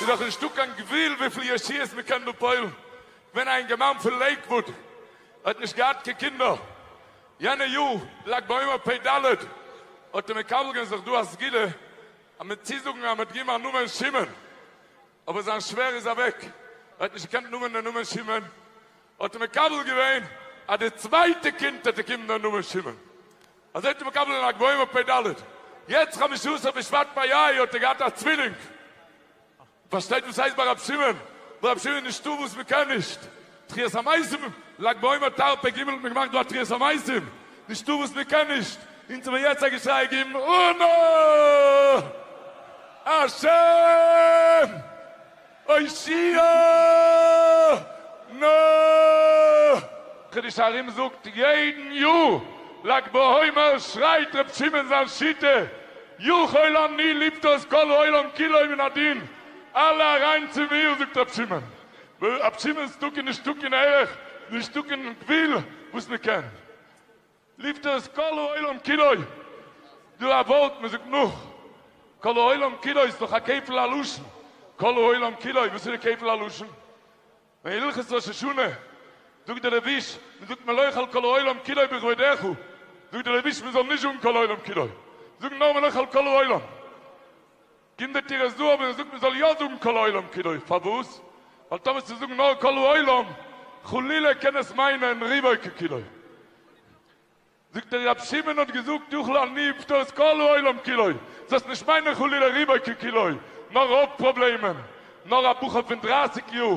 ס'איז דאך נישטא קיין גבול וויפיל ישועות מ'קען דא פועל'ן, כ'בין א אינגערמאן פון לעיקוואוד, ער האט נישט געהאט קיין קינדער, יענע יאר לג בעומר פ ד האט ער מקבל געווען זיך דא א סגולה אז מיט צוזאגן אז מ'האט געומען א נאמען שמעון, אבער זיין שווער איז אוועק, ער האט נישט געקענט נאמען דעם נאמען שמעון, האט ער מקבל געווען אז די צווייטע קינד האט צוקומען דער נאמען שמעון, אזוי האט ער מקבל אין לג בעומר פ ד, יעצט חמשה עשר בשבט פ י האט ער געהאט א צווילינג, מ'פארשטייט וואס הייסט ביי רבי שמעון, ביי רבי שמעון איז נישטא וואס מ'קען נישט, תחיית המתים, לג בעומר תר פ ג האט מען געמאכט דא א תחיית המתים, נישטא וואס מ'קען נישט, אונז האב מיר יעצט א געשריי געגעבן אנא השם! הושיעה נ קדוש ארום זאגט יעדן יאר לג בעומר שרייט ר' שמעון זיין שיטה יכול אני לפטור את כל העולם כולו מן הדין אלע אריין צום עיר זאגט ר' שמעון ור' שמעון'ס תוקע נישט תוקע נערך נישט תוקע גבול וואס מ'קען ליפטער איז כל העולם כולו, דא א ווארט מען זאגט נאך כל העולם כולו איז דאך א כפל הלשון, כל העולם כולו וואס איז די כפל הלשון? ווען אין הלכות ראש השנה זאגט דער רביש מען זאגט מען לא יאכל כל העולם כולו בכבודך, זאגט דער רביש מען זאל נישט זאגן כל העולם כולו, זאגן נאר מען לא יאכל כל העולם. גינדערט איר עס דא אויב איר זאגט מען זאל יא זאגן כל העולם כולו, פארוואס? ווייל טאמער צו זאגן נאר כל העולם חלילה קען עס מיינען רובו ככולו. זאגט ער רבי שמעון האט געזאגט יאכל אני אפטור איז כל העולם כולו, זאלסט נישט מיינען חלילה רובו ככולו, נאר רוב פראבלעמען נאר א בחור פון דרייסיג יאר,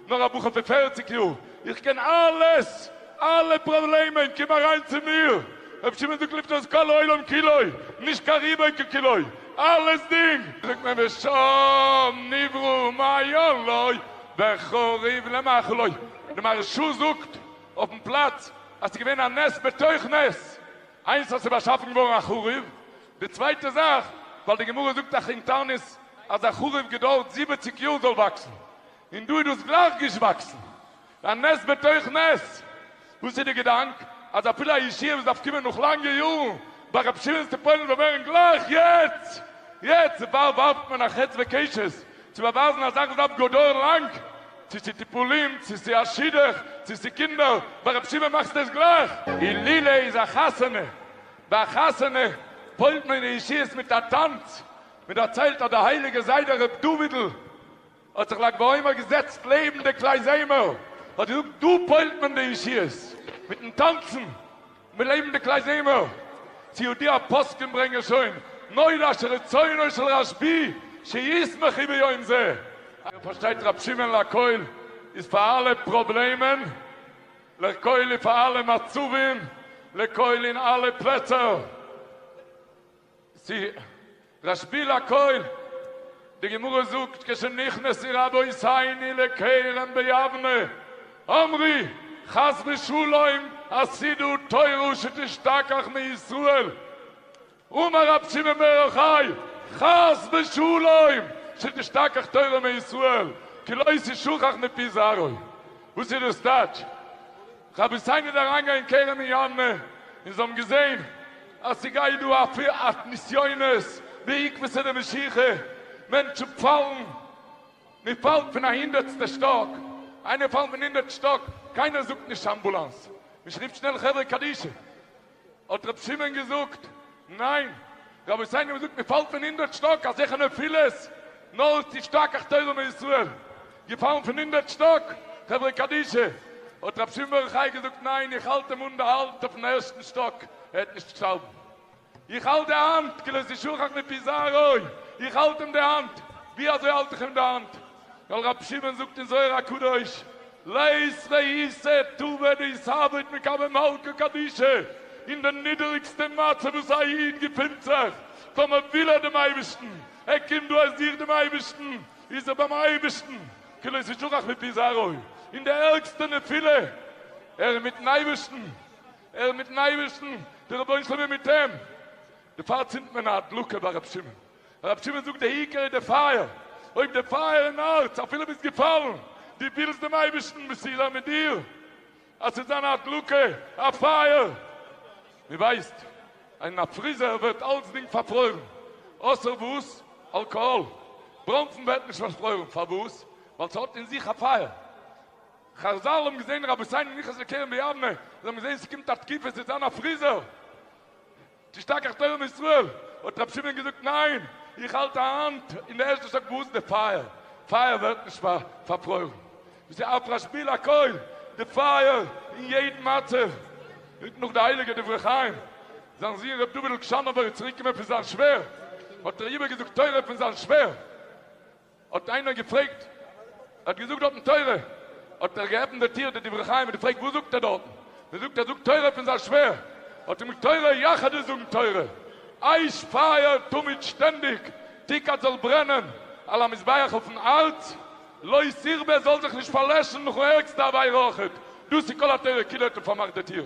נאר א בחור פון פערציג יאר, איך קען אלעס, אלע פראבלעמען, קום אריין צו מיר, ר' שמעון זאגט לפנות כל העולם כולו, נישט קיין ריבוי כקילוי, אלעס דינג! זאגט מען ושם נברא ומעיין לו וחריב למאכלו, די מהרשא זאגט אויפן פלאץ אז ס'איז געווען א נס בתוך נס, איינס אז ס'איז באשאפן געווארן א חריב, די צווייטע זאך, ווייל די גמרא זאגט אויך אין תענית אז א חרוב געדארט זיבעציג יאר זאל וואקסן, און דא איז דאס גלייך געשוואקסן. א נס בתוך נס. וואס איז די געדאנק אז אפילו א ישועה וואס דארף קומען נאך לאנגע יארן ביי רבי שמעון צו פועל'ן זאל ווערן גלייך יעצט? יעצט צוואר ווארפט מען א חץ וקשת צו באווייזן א זאך וואס דארף גאר דויערן לאנג, צו ס'איז טיפולים, צו ס'איז א שידוך, צו ס'איז קינדער, ביי רבי שמעון מאכסטו עס גלייך. אילולא איז א חתונה ביי א חתונה פוילט מען די אישיות מיט א טאנץ, מען דערציילט אז די הייליגע זיידע ר' דויד'ל האט זיך לג בעומר געזעצט לעבן די קלייזעמער, האט געזאגט דא פוילט מען די אישיות מיטן טאנצן מיט לעבן די קלייזעמער, צו יודעי הפוסקים ברענגען שוין נודע שרצונו של רשבי שישמחי ביום זה. איר פארשטייט ר' שמעון לעקויל איז פאר אלע פראבלעמען. לכל איז פאר אלע מצבים, לכל אין אלע פלעצער. צו רשבי לכל, די גמרא זאגט כשנכנסי רבי סייני לכרם ביבנה אמרי חס ושלום אז סידור תורה שתשתכח מישראל, אמר רב שמעון בר יוחאי, חס ושלום! שתשתכח תורה מישראל, כי לא תשוכח מפי זרעו. וואס איז דאס טייטש? רבי הוסיין איז אריינגעגאנגען אין כרם מיאנמע, און זיי האבן געזען אז ס'גייט דא א נסיונות בעקבתא דמשיחא, מענטשן פאלן, מען פאלט פון א הונדערטסטע שטאק, איינער פאלט פון הונדערט שטאק, קיינער זאגט נישט אמבולאנס, נישט רופט שנעל חברה קדישא. האט רבי שמעון געזאגט, ניין, רבותי אייך האט געזאגט מען פאלט פון הונדערט שטאק אז זיכער נפילות, נאר איז תשתכח תורה מישראל געפאלן פון הונדערט שטאק, חברה קדישא, האט רבי שמעון ברוך חיי געזאגט, ניין איך האלט אים אן די האלט אויפן ערשטן שטאק ער וועט נישט שטארבן, איך האלט די האנט כלות ישוחח מפי זרעו, איך האלט אים די האנט, ווי אזוי האלט איך אים די האנט? ווייל רבי שמעון זאגט אין זוהר הקדוש, לית ואיסר תבא דעיסהוועט מקבל מלכא קדישא, אין די נידעריגסטע מצב וואס א איד געפינט זיך, טאר מען וויל ער דעם אייבערשטן, ער קומט דא ער זוכט דעם אייבערשטן, איז ער ביים אייבערשטן, כאילו ס'איז שכח מפי זרעו, אין די ערגסטע נפילה, ער איז מיטן אייבערשטן, ער איז מיטן אייבערשטן, די רבונו של עולם איז מיט אים, דערפאר צינדט מען א הדלקה ביי רבי שמעון. הרב שמעון זאגט די עיקר איז די פייער, אויב די פייער אין הארץ אפילו ביסט געפאלן, דו ווילסט דעם אייבערשטן וואס ס'איז א מיט דיר, אז ס'זאל זיין א הדלקה, א פייער, מען ווייסט אז אין א פריזער ווערט אלצדינג פארפרוירן, אויסער וואס? אלקאהאל, בראנפן ווערט נישט פארפרוירן, פארוואס? ווייל ס'האט אין זיך א פייער, חז ל האבן געזען רבותינו נכנס לכרם ביבנה, זיי האבן געזען ס'קומט א תקופה ס'זאל זיין א פריזער, תשתכח תורה מישראל, האט רבי שמעון געזאגט, ניין, איך האלט א האנט אין די ערשטע שטאק וואו די פייער פייער ווערט נישט פארפרוירן, דאס איז אף רשבי לכל, די פייער אין יעדן מצב, מיט נאך די הייליגע דברי חיים, זיין זון רבי דוד אלקשאנאווער איז צוריק געקומען פון זיין שווער, האט ער איבער געזאגט תורה פון זיין שווער. האט איינער געפרעגט, ער האט געזאגט דארטן תורה, האט ער געעפנט די טיר די דברי חיים און געפרעגט וואס זאגט ער דארטן, מען זאגט ער זאגט תורה פון זיין שווער, האט אים תורה יחדש זאגן תורה, אייש פייער תמיד שטענדיג, תיקת זאל ברענען על המזבח אויפן הארץ, לא יכבה זאל זיך נישט פארלעשן נאכן ערגסטע עבירה אויכעט, דאס איז כל התורה כולה האט ער פארמאכט די טיר.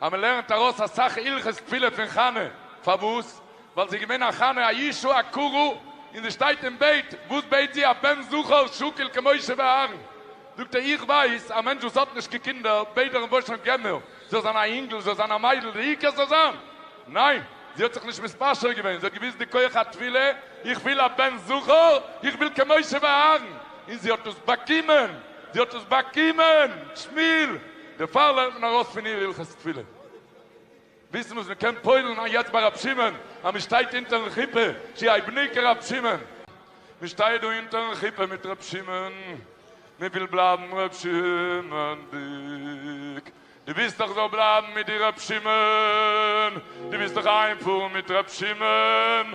אז מען לערנט ארויס אסאך הלכות תפילה פון חנה, פארוואס? ווייל זי איז געווען א חנה א ישו א קרא, און זי שטייט און בעט, וואס בעט זי? א בן זכר שוקל כמשה ואהרן, זאגט ער איך ווייס, א מענטש וואס האט נישט קיין קינדער בעט דאך אין וואשונג געמער, זאל זיין א אינגל, זאל זיין א מיידל, די עיקר ס'זאל זיין, ניין, זי האט זיך נישט מתפשר געווען, זי האט געוויסט די כח התפילה, איך וויל א בן זכר, איך וויל כמשה ואהרן, און זי האט עס באקומען, זי האט עס באקומען! שמיל. דערפאר לערנט מען ארויס פון איר הלכות תפילה, וויסן וואס מען קען פועל'ן א יעצט ביי רבי שמעון, אז מען שטייט אונטערן חופה, צו איי בני כרבי שמעון, מען שטייט דא אונטערן חופה מיט רבי שמעון, מען וויל בלייבן רבי שמעון'דיג, דו ווילסט דאך זאל בלייבן מיט דיר רבי שמעון, דו ווילסט דאך איינפארן מיט רבי שמעון,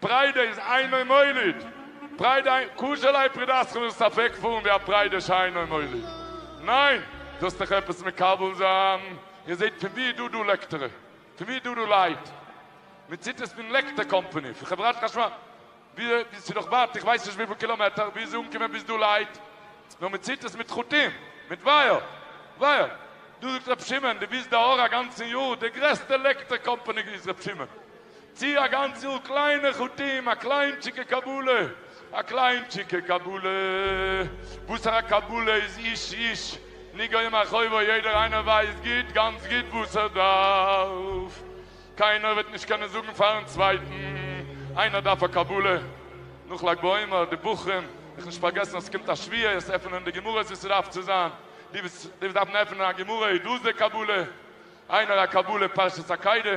פריידע איז אינו מוליד, פריידע אינו, קשה ליה פרידתך ווילסט ספק פארן ווי א פריידע שאינו מוליד? ניין, זאלסט דיך עפעס מקבל זיין, איר זעט פון ווי איז דא דא לעקטערע? פון ווי איז דא דא לייט? מען ציט עס פון לעקטער קאמפאני, פון חברת חשמל, ווי עס איז דאך ווייט איך ווייס נישט וויפיל קילאמעטער, ווי איז אנגעקומען ביז דא לייט? נאר מען ציט עס מיט חוטים, מיט ווייער, ווייער, דא זאגט ר' שמעון דו ביזט די אור הגנז'ן יאר, די גרעסטע לעקטער קאמפאני איז ר' שמעון. צי אַ גאַנצל קליינע חטאים, אַ קליינטשיקע קבלה, אַ קליינטשיקע קבלה, וואָסער אַ קבלה איז איש איש נגעים אחורו, יעדער איינער ווייסט גוט, גאַנץ גוט וואָס ער דאַרף, קיינער וועט נישט קענען זאָגן פאַרן צווייטן, איינער דאַרף אַ קבלה, נאָך לג בעומר, די בחורים, זיך נישט פאַרגעסן אַז עס קומט אַ שביעי, עס עפענען די גמרות ווי עס דאַרף צו זיין, די וואָס דאַרפן עפענען אַ גמרא איז דאָס די קבלה, איינער אַ קבלה פרשת עקידה,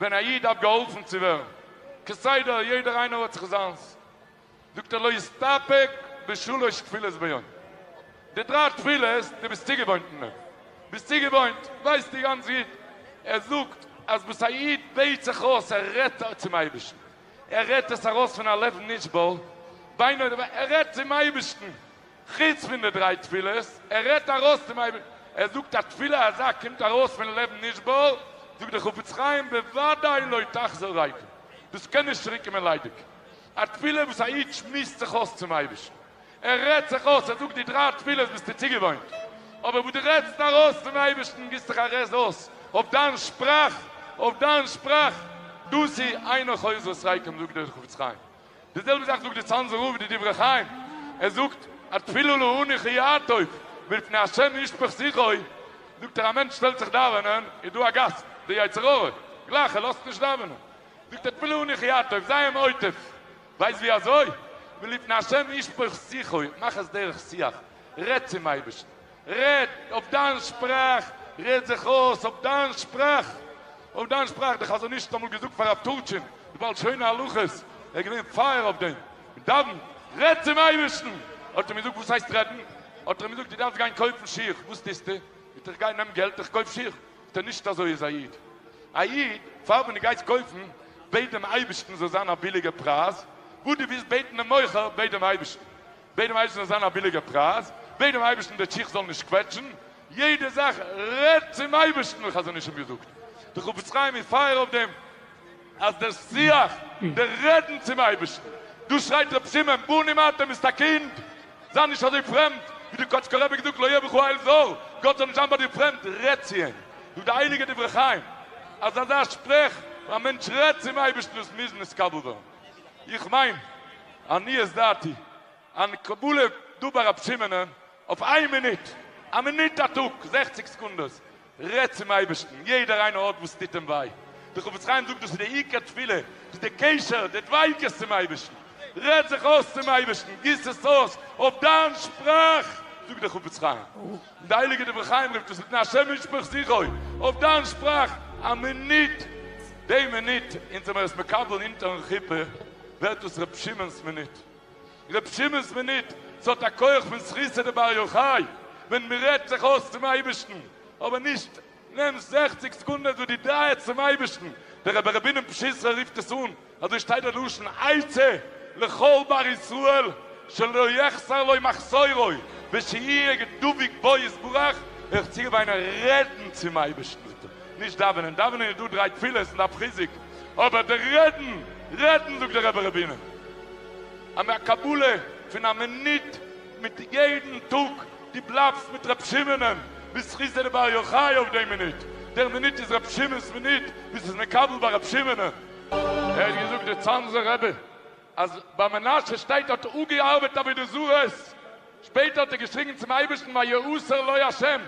ווען א איד דארף געהאלפן צו ווערן, כסדר יעדער איינער האט זיך זיינס, זאגט ער לא יסתפק בשלוש תפילות ביום, די דריי תפילות דו ביסט צוגעוואוינט אין אים, ביסט צוגעוואוינט, ווייסטו גאנץ גוט, ער זאגט אז וואס א איד בעט זיך אויס ער רעדט צום אייבערשטן, ער רעדט עס ארויס פון א לב נשבר, בינו לבינו, ער רעדט צום אייבערשטן, חוץ פון די דריי תפילות, ער רעדט ארויס צום אייבערשטן, ער זאגט א תפילה אזא קומט ארויס פון לב נשבר, זאגט דער חפץ חיים בוודאי לא תחזור ריקם, דאס קען נישט צוריק קומען ליידיג, א תפילה וואס א איד שמועסט זיך אויס צום אייבערשטן, ער רעדט זיך אויס, ער זאגט די דריי תפילות ביסטו צוגעוואוינט, אבער וואס דו רעדסט ארויס צום אייבערשטן, גיבסט זיך א רעז אויס אויף דיין שפראך, אויף דיין שפראך, דאס איז אינו חוזר ריקם זאגט דער חפץ חיים. די זעלבע זאך זאגט די צאנזער רב אין די דברי חיים, ער זאגט א תפילה להני ח יעטוב ולפני השם ישפוך שיחו, זאגט ער א מענטש שטעלט זיך דאווענען איז דא א גאסט, די יצר הרע, גלייך ער לאזט נישט דאווענען, זאגט ער תפילה להני ח יעטוב, זיי אים עוטף, ווייסט ווי אזוי? ולפני השם ישפוך שיחו, מאך עס דרך שיח, רעד צום אייבערשטן, רעד אויף דיין שפראך, רעד זיך אויס אויף דיין שפראך, אויף דיין שפראך, דער חזון איש האט אמאל געזאגט פאר רב טורטשין די בעל שונא הלכות, ער איז געווען פייער אויף דעם, דאווען, רעד צום אייבערשטן, האט ער אים געזאגט וואס הייסט רעדן? האט ער אים געזאגט דו דארפסט גיין קויפן שיך, וואס טוסטו? זאגט ער איך גיי נעם געלט איך קויף שיך, זאגט ער נישט אזוי איז א איד, א איד פאר ווען דו גייסט קויפן בעט דעם אייבערשטן ס'זאל זיין א ביליגע פרייז, וואס דו ווילסט בעטן דעם מוכר בעט דעם אייבערשטן. בעט דעם אייבערשטן עס זאל זיין א ביליגע פרייז, בעט דעם אייבערשטן די שיך זאל נישט קוועטשן, יעדע זאך רעד צום אייבערשטן ווי חזון איש האט געזאגט, די חפץ חיים איז פייער אויף דעם, אז דער שיח, די רעדן צום אייבערשטן, דאס שרייט רבי שמעון, בנים אתם ביסט א קינד, זיי נישט אזוי פרעמד, ווי די קאטשקע רבי האט געזאגט לא יהיה בך העל זר, גאט זאל נישט זיין ביי דיר פרעמד, רעד צו אים, זאגט די הייליגע דברי חיים, אז אזא שפרעך, ווען א מענטש רעד צום אייבערשטן דאס מוז נתקבל ווערן. איך מיין, עניות דעתי, אן קבלה דובר רב סימענע אויף איין מינוט, א מינוט א טאג, זעכציג סעקונדעס, רעד צום אייבערשטן, יעדער איינער האט וואס טוט אים וויי, דער חפץ חיים זאגט דאס איז די עיקר תפילה, דאס איז די קשר, די דביקות צום אייבערשטן, רעד זיך אויס צום אייבערשטן, גיס עס אויס אויף דיין שפראך, זאגט דער חפץ חיים. דער הייליגער דברי חיים רופט עס נתנה השם משפך זיכוי אויף דיין שפראך, א מינוט, די מינוט אונז זעמער עס מקבל אונטערן חופה ווערט דאס רבי שמעון'ס מינוט, רבי שמעון'ס מינוט, ס'האט א כח פון זכותא דבר יוחאי, ווען מ'רעדט זיך אויס צום אייבערשטן, אבער נישט נעם זעכציק סעקונדעס וואס דו דרייסט צום אייבערשטן, דער רבי רבינם פשיסחא רופט עס אן, אזוי שטייט דער לשון עצה לכל בר ישראל שלא יחסר לו מחסורו ושיהיה דבוק בו יתברך, איך האב צוגעוויינען רעדן צום אייבערשטן זאגט ער, נישט דאווענען, דאווענען איז דא דריי תפילות און דארף חיזוק, אבער די רעדן, רעדן זאגט דער רבי רבינם, א קבלה פון א מינוט מיט יעדן טאג דו בלייבסט מיט רב שמעונ'ען בזכות דער בר יוחאי אויף דעם מינוט, דער מינוט איז רב שמעון'ס מינוט וואס איז מקבל ביי רב שמעונ'ען. ער האט געזאגט דער צאנזער רבי אז ביי מנשה שטייט האט ער אפגעארבעט עבודה זרה'ס, שפעטער האט ער געשריגן צום אייבערשטן ויעושר לו השם,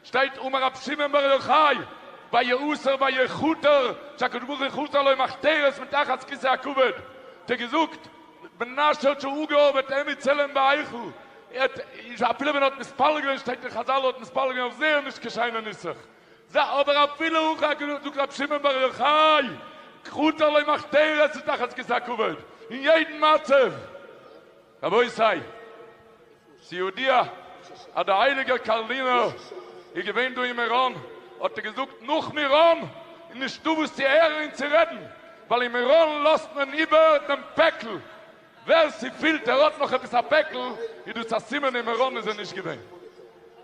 שטייט אמר רבי שמעון בר יוחאי ויאסר ויכותר שהקדוש ברוך הוא יכותר לו מחתרת מתחת כסא הכבוד האט ער געזאגט בן מנשה האט שוין אפגעארבעט עמי צלם בהיכל ער האט אפילו ווען ער האט מספלל געווען שטייט אין חזל ער האט מספלל געווען אויף זייער נישט קיין שיינע נוסח זיי אבער אפילו הוא כ ק זאגט רבי שמעון בר יוחאי כותר לו מחתרת מתחת כסא הכבוד אין יעדן מצב רבותי, ס'ידוע אז דער הייליגער קארלינער איז געווען דא אין מירון, האט ער געזאגט נאך מירון איז נישטא וואס צו הערן און צו רעדן, ווייל אין מירון לאזט מען איבער דעם פעקל, ווער ס'פילט ער האט נאך עפעס א פעקל איז דאס א סימן אין מירון איז ער נישט געווען.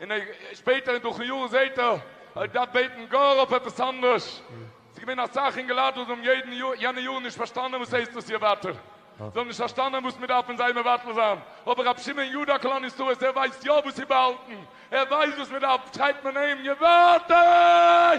און שפעטער אין דורכן יארן זעהט ער ער האט געדארפט בעטן גאר אויף עפעס אנדערש, ס'איז געווען אסאך אינגעלייט וואס האבן יעדן יאר יענע יארן נישט פארשטאנען וואס הייסט דאס יאר ווייטער, זיי האבן נישט פארשטאנען וואס מ'דארף פון זיי מבטל זיין, אבער רבי שמעון יודא קלאן ישראל ער ווייסט יא וואס איז באהאלטן, ער ווייסט וואס מ'דארף, שרייבט מען אים יווארטעי!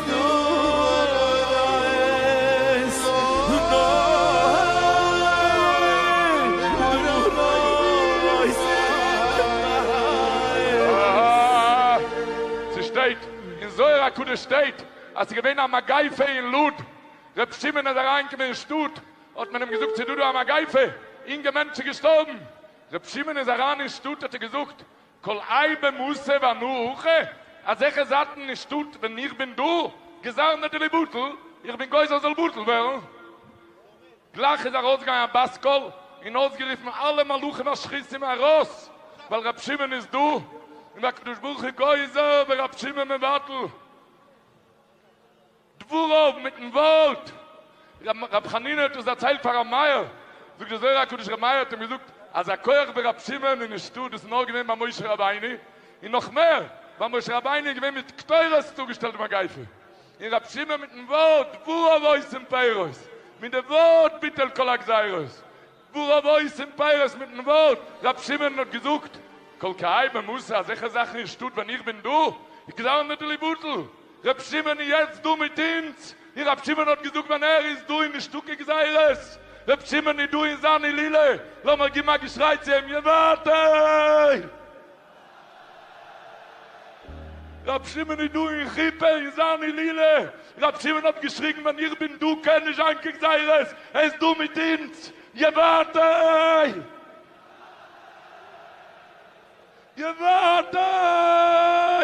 ס'שטייט, אין זוהר הקדוש שטייט, אז ס'איז געווען א מגיפה אין לוד, ר' שמעון איז אריינגעקומען אין שטאט, האט מען אים געזאגט ס'איז דא דא א מגיפה, אינגע מענטש איז געשטארבן, ר' שמעון איז אריין אין שטאט האט ער געזאגט, כל אי במסה והנאה א זכר זייטן אין שטאט ווען איך בין דא גזר נדר לבטל איך בין גוזר זאל בטל ווערן גלייך איז ארויסגעגאנגען א בת קול און אויסגערופן אלע מלאכים השחיתים ארויס ווייל רבי שמעון איז דא און הקדוש ברוך הוא גוזר ורבי שמעון מבטל. דבריו מיטן ווארט רבי חנינא האט עס דערציילט פאר רבי מאיר, זאגט דער זוהר הקדוש רבי מאיר האט אים געזאגט אז א כח ווי רבי שמעון איז נישטא דאס איז נאר געווען ביי משה רבינו, און נאך מער ביי משה רבינו איז געווען מיט קטורת צוגעשטעלט מגיפה, און רבי שמעון מיטן ווארט דבריו עושים פירות, מיט די ווארט ביטל כל הגזירות. וואו רוב הויז און פייערס מיטן ווארט רב שמעון האט געזאגט קול קאי במסע אזעלכע זאכן אין שטאט ווען איך בין דא איז געווען אן אידעלע בטל רב שמעון איז יעצט דא מיט אונז און רב שמעון האט געזאגט ווען ער איז דא איז נישטא קיין גזירות רב שמעון איז דא אין זיין הילולא לאמיר גיבן א געשריי צו אים יבעתי. רבי שמעון איז דא אין חופה אין זיין הילולא, רבי שמעון האט געשריגן ווען איך בין דא קען נישט זיין קיין גזירות, ער איז דא מיט אונז, גיי ווייטער! גיי ווייטער!